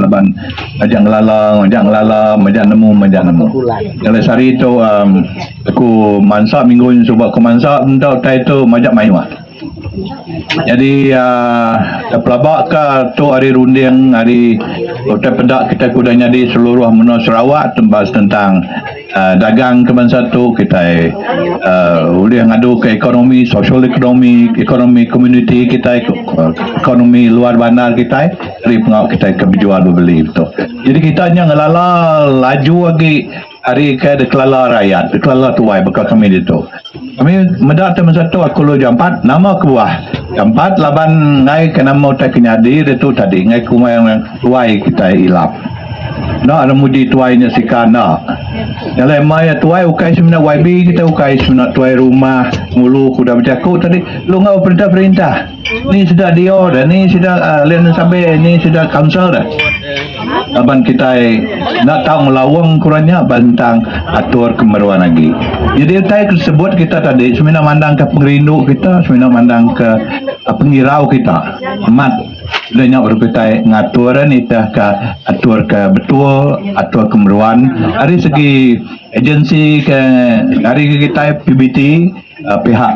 laban majak ngelala majak ngelala majak nemu majak nemu jalai sehari tu um, aku mansa minggu ni suba aku mansa entau tai tu majak mayuh jadi uh, ah, pelaba ke tu hari runding hari utai peda kita kuda nyadi seluruh menua Sarawak tembas tentang Dagang ke bansa tu kitai ulih ngadu ke ekonomi sosial ekonomi, ekonomi komuniti kitai, ekonomi luar bandar kitai eri pengawa kitai ke bejual bebeli tu. Jadi kitai nya ngelala laju agi ari ke dikelala rayat, dikelala tuai baka kami ditu. Kami meda utai masa tu aku lalu jampat nama kebuah jampat laban enggai ke nama utai ke nyadi ditu tadi enggai ke umai orang tuai kitai ilap enda orang muji tuai nya sika enda jalai ema iya tuai ukai semina yb kitai ukai semina tuai rumah ngulu ke udah bejaku tadi lalu enggau perintah-perintah. ni sida dio deh ni sida alai enda sampe ni sida kansel deh laban kitai enda tau ngelaung ku orang nya bentang atur kemeruan agi jadi utai ke sebut kita tadi semina mandang ke pengerindu kita semina mandang ke pengirau kita amat enda nya baru kitai ngatur eh nitih ka atur ke betul atur ke meruan ari segi agensi ke ari ke kitai PBT pihak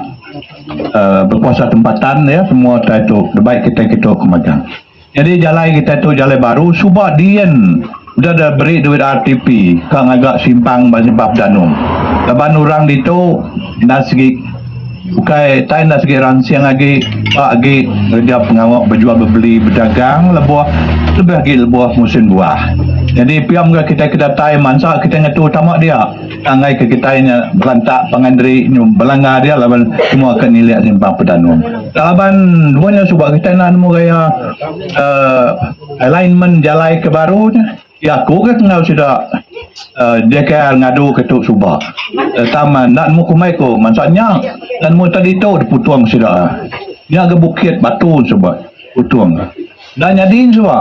Bekuasa tempatan ya semua tai tu debai kitai kitu ke magang. Nyadi jalai kitai tu jalai baru suba diin udah da beri duit RTP ka ngaga simpang ba Simpang Pedanum laban urang ditu enda sigi ukai tai enda sigi ransing agi ba agi ngereja pengawa bejual bebeli bedagang lebuh lebih agi lebuh musin buah. Nyadi pia mega kitai ke datai mansa kitai ngetu tama dia. Tanggai ke kitai nya berantak pangan diri nyu belanga dia laban semua ke nilik simpang pedanum. Tang laban dua nya suba kitai enda nemu gaya uhh alignment jalai ke baru nya. Iya aku ke enggau sida uhh JKR ngadu ke tu suba tang enda nemu kumbai ku mansa nya enda nemu ita ditu diputung sida. Nya ga bukit batu suba putung. Enda nyadi suba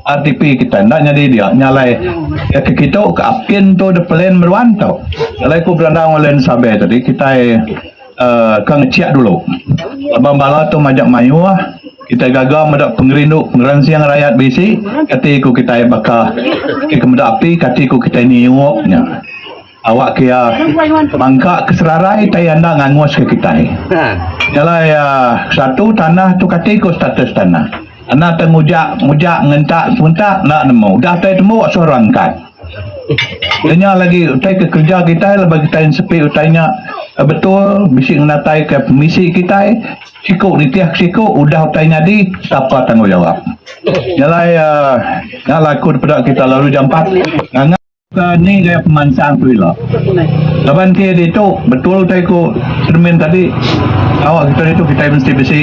RTP kitai enda nyadi dia nya alai ke kitu ke apin tu dep plan meruan tu alai ku beranda ngan Land Survey tadi kitai uhh ke ngecheck dulu laban bala tu majak mayuh kitai gaga meda pengerindu pengeransing rayat bisi kati ku kitai baka ke meda api kati ku kitai nyiup nya. Awak ke iya bangka ke serarai tei enda ngangus ke kitai. Jalai satu tanah tu kati ku status tanah. Enda tau ngujak mujak ngentak sementak enda nemu. Udah tei tembu suh rangkat. Udah nya lagi utai ke kerja kitai laban kitai nsepi utai nya betul bisi ngenatai ke pemisi kitai siku nitih ke siku udah utai nyadi sapa tanggungjawap. Jalai nya laku dipeda kitai lalu jampat nganga. Ka ni gaya pemansang tu ila. Laban ke ditu betul utai ku Shermin tadi awak kita ditu kitai mesti bisi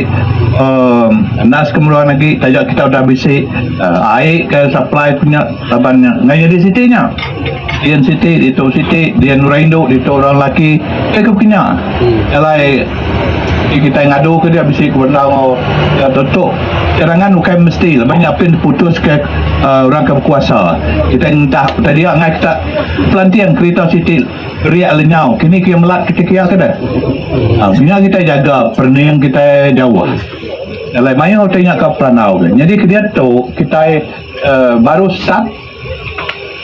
um nas ke meruan agi taja kita udah bisi um ai ke supply ku nya laban nya enda nyadi siti nya. Dian siti ditu siti dian orang indu ditu orang lelaki pia ku kinya alai Ti kitai ngadu ke dia bisi ke bendar enggau orang tentu. Keterangan ukai mesti laban nya apin diputus ke orang ke bekuasa. Kitai ngentak utai dia angai kita pelanting kerita siti riak lenyau kini ke melat ke ti kiah ke deh. Aa nya kitai jaga perening kitai jauh. Alai mayuh utai nya ka perandau ke. Nyadi ke diatu kitai baru start.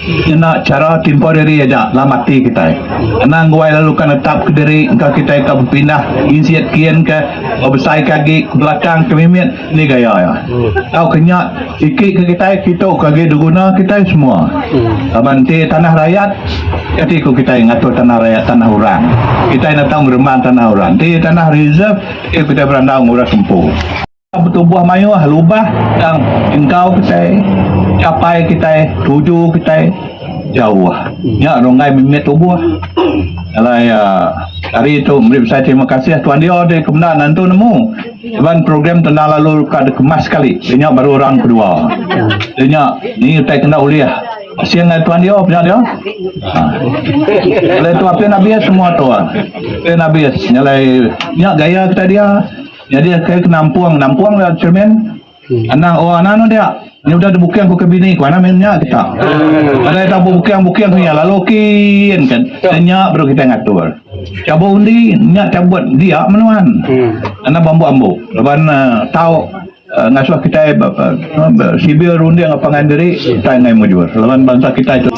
Ngena chara temporari aja lama ati kitai. Kena nguai lalu ka netap ka diri engka kitai ka bepindah insit kin ka bebesai ka agi ke belakang ke mimit ni gaya iya. Tau ke nya siki ke kitai kitu ke agi diguna kitai semua. Laban enti tanah rayat kati ku kitai ngatur tanah rayat tanah orang. Kitai nata ngeremban tanah orang. Enti tanah reserve enti kitai berandau ngurus empu. Betubuh mayuh lubah tang engkau kitai capai kitai tuju kitai jauh nya runggai mimit tubuh. Alai uhh ari tu meri besai terima kasih tuan Deo deh ke menda nentu nemu ngeban program tendang lalu ka dikemas sekali deh nya baru round kedua. Deh nya ni utai ke enda ulih asing ari tuan Deo peda Deo. Uhh. Alai tu apin abis semua tu. Apin abis nyalai nya gaya kitai dia. Nyadi akai ke nampung, nampung da cermin. Anang, oh anang anu dia. Nya udah dibukang ku ke bini ku anang meh nya kita. Nadai tau bebukang-bukang ku iya lalu kin ka da nya baru kitai ngatur. Cabut undi nya cabut dia meh nuan. Anang beambu-ambu laban tau ngasuh kitai sibil runding pangan diri kitai enggai mujur laban bansa kitai tu.